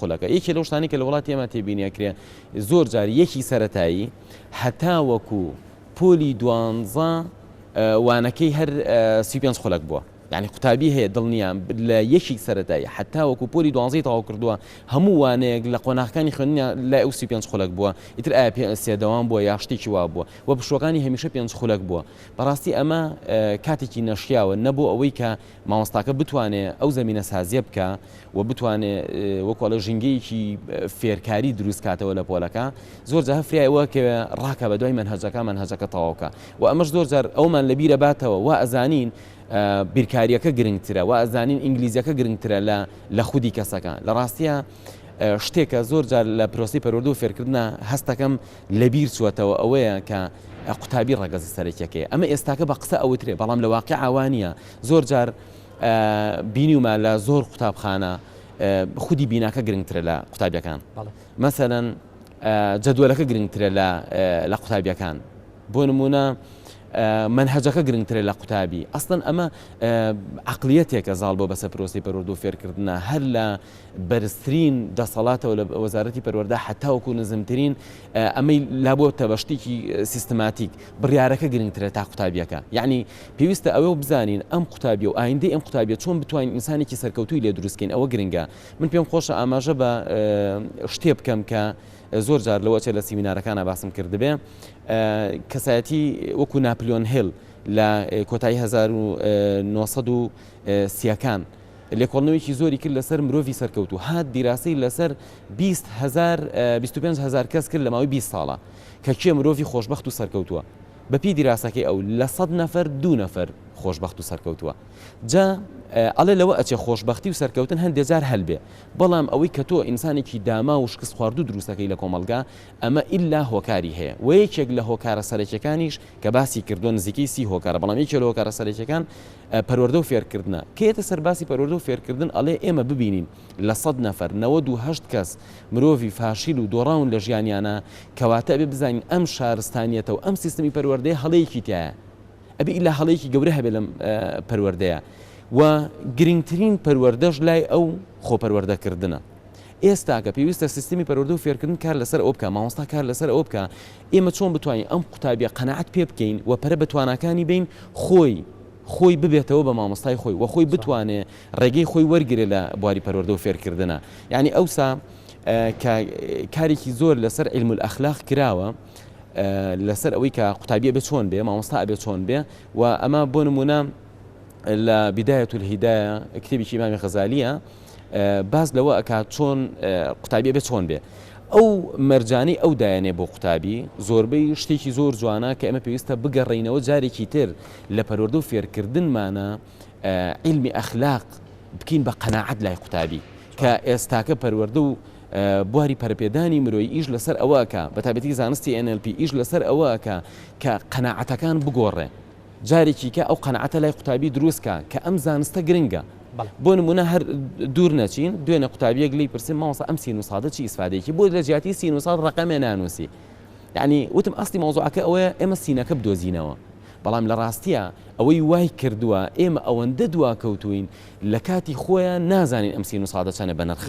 قولەکە یەکێ لەو شتانەی کە لە وڵاتی ئێمە تێبینی ئەکرێ زۆر جار یەکی سەرەتایی هەتاوەکو پۆلی دوانزە وانەکەی هەر سی پێنج خولەک بووە یعنی قوتابی هەیە دڵنیام لە یەکی سەرەتایی حتا وەکو پۆلی دوانزی تەواو کردووە هەموو وانەیەک لە قۆناغەکانی خوێنیا لای ئەو سی پێنج خولەک بووە ئیتر ئایا پێ سێدەوام بووە یا شتێکی وا بووە و پشوەکانی هەمیشە پێنج خولەک بووە بەڕاستی ئەمە کاتێکی نەشیاوە نەبوو ئەوەی کە مامۆستاکە بتوانێ ئەو زەمینە سازیە بکا و بتوانێ وەکو ئەڵێ ژینگەیەکی فێرکاری دروست کاتەوە لە پۆلەکە زۆر جا هە فرای ئەوە کەوێ ڕاکە بە دوای مەنهەجەکە مەنهەجەکە تەواوکە و ئەمەش زۆر جار ئەومان لە بیرە باتەوە وا ئەزانین بیرکاریەکە گرنگترە و ئەزانین ئینگلیزیەکە گرنگترە لە لە خودی کەسەکە لە ڕاستیە شتێکە زۆر جار لە پرۆسی پەروەردە و فێرکردە هەستەکەم لەبیر چوەتەوە ئەوەیە کە قوتابی ڕەگەزە سەرەکیەکەی ئەمە ئێستاکە بە قسە ئەوترێ بەڵام لە واقع ئاوانە زۆر جار بینیومە لە زۆر قوتابخانە خودی بیناکە گرنگترە لە قوتابیەکان مەسەەن جەدوەلەکە گرنگترە لە قوتابیەکان بۆ نمونە منهجەکە گرنگترە لە قوتابی ئەستن ئەمە عقلیەتێکە زاڵ بۆ بەسە پرۆسی پەروەرد و فێرکردە هەر لە بەرزترین دەسەڵاتەوە لە وەزارەتی پەروەەردە حتاوکو نزمترین ئەمەی لابۆتە بە شتێکی سیستماتیک، بڕیارەکە گرنگترە تا قوتابیەکە. یەعنی پێویستە ئەوە بزانین ئەم قوتابیە و ئایندەی ئەم قوتابیە چۆن بتوانین ئینسانێکی سەرکەوتووی لێ دروست کەین ئەوە گرنگە. من پێم خۆشە ئاماژە بە شتێ بکەم کە زۆر جار لەوە چێ لە سیمینارەکانا باسم کردبێ. کەسایەتی وەکو ناپلیۆن هێل لە کۆتایی هەزار و نۆ سەد و سیەکان لێکۆڵنەوەیەکی زۆری کرد لەسەر مرۆڤی سەرکەوتوو هات دیراسەی لەسەر بیست هەزار بیست و پێنج هەزار کەس کرد لە ماوەی بیست ساڵە کە کێ مرۆڤی خۆشبەخت و سەرکەوتووە بەپێی دیراسەکەی ئەو لە سەد نەفەر دوو نەفەر خۆشبەخت و سەرکەوتووە جا ئەڵێ لەوە ئەچێ خۆشبەختی و سەرکەوتن هەندێ جار هەلبێ بەڵام ئەوەی کە تۆ ئینسانێکی داما و شکست خواردو دروستەکەی لە کۆمەلگا ئەمە ئللا هۆکاری هەیە و یەکێک لە هۆکارە سەرەکیەکانیش کە باسی کردووە نزیکەی سی هۆکارە بەڵام یەکێ لە هۆکارە سەرەکیەکان پەروەردە و فێرکردنە، کە یەتە سەر باسی پەروەردە و فێرکردن ئەڵێ ئێمە ببینین لە سەد نەفەر نەوەد و هەشت کەس مرۆڤی فاشیل و دۆڕاون لە ژیانیانا، کەواتە ئەبێ بزانین ئەم شارستانیەتە و ئەم سیستمی پەروەردەیە هەڵەیەکی تیایە، ئەبێ ئیلا هەڵەیەکی گەورە هەبێ لەم پەروەردەیە و گرنگترین پەروەردەش لای ئەو خۆپەروەردەکردنە، ئێستاکە پێویستە سیستمی پەروەردە و فێرکردن کار لەسەر ئەوە بکا، مامۆستا کار لەسەر ئەوە بکا ئێمە چۆن بتوانین ئەم قوتابیە قەناعەت پێ بکەین و پەرە بە تواناکانی بەین خۆی خۆی ببێتەوە بە مامۆستای خۆی و خۆی بتوانێ ڕێگەی خۆی وەرگرێ لە بواری پەروەردە و فێرکردنا یانی ئەوسا کە کارێکی زۆر لەسەر علم الاخلاق کراوە لەسەر ئەوەی کە قوتابیە بێ چۆن بێ مامۆستا ئەبێ چۆن بێ و ئەمە بۆ نمونە لە بدایەت الهیدایە کتێبی ئیمامی غەزالیە باس لەوە ئەکات چۆن قوتابی ئەبێ چۆن بێ ئەو مەرجانەی ئەو دایانێ بۆ قوتابی زۆربەی شتێکی زۆر جوانە کە ئەمە پێویستە بگەڕینەوە جارێکی تر لە پەروەردە و فێرکردنمانە علمی ئەخلاق بکەین بە قەنەعەت لای قوتابی کە ئێستاکە پەروەردە و بواری پەرپێدانی مرۆی ئیش لەسەر ئەوەکە بە تابەتی زانستی NLP ئیش لەسەر ئەوەکە کە قەنەعەتەکان بگۆڕێ جارێکی کە ئەو قەناعەتە لای قوتابی دروست کە کە ئەم زانستە گرنگە. بەڵێ. بۆ نموونە هەر دوور نەچین، دوێنێ قوتابییەک لێی پرسیم مامۆستا ئەم سین و سادە چی ئیسفادەیەکی بۆ لە جیاتی سین و ساد ڕەقەمێ نانووسی؟ یەعنی وتم ئەسڵی مەوزوعەکە ئەوەیە ئێمە سینەکە بدۆزینەوە. بەڵام لە ڕاستییا ئەوەی وای کردووە ئێمە ئەوەندە دواکەوتووین لە کاتی خۆیا نازانین ئەم سین و سادە چەنە بەنرخە.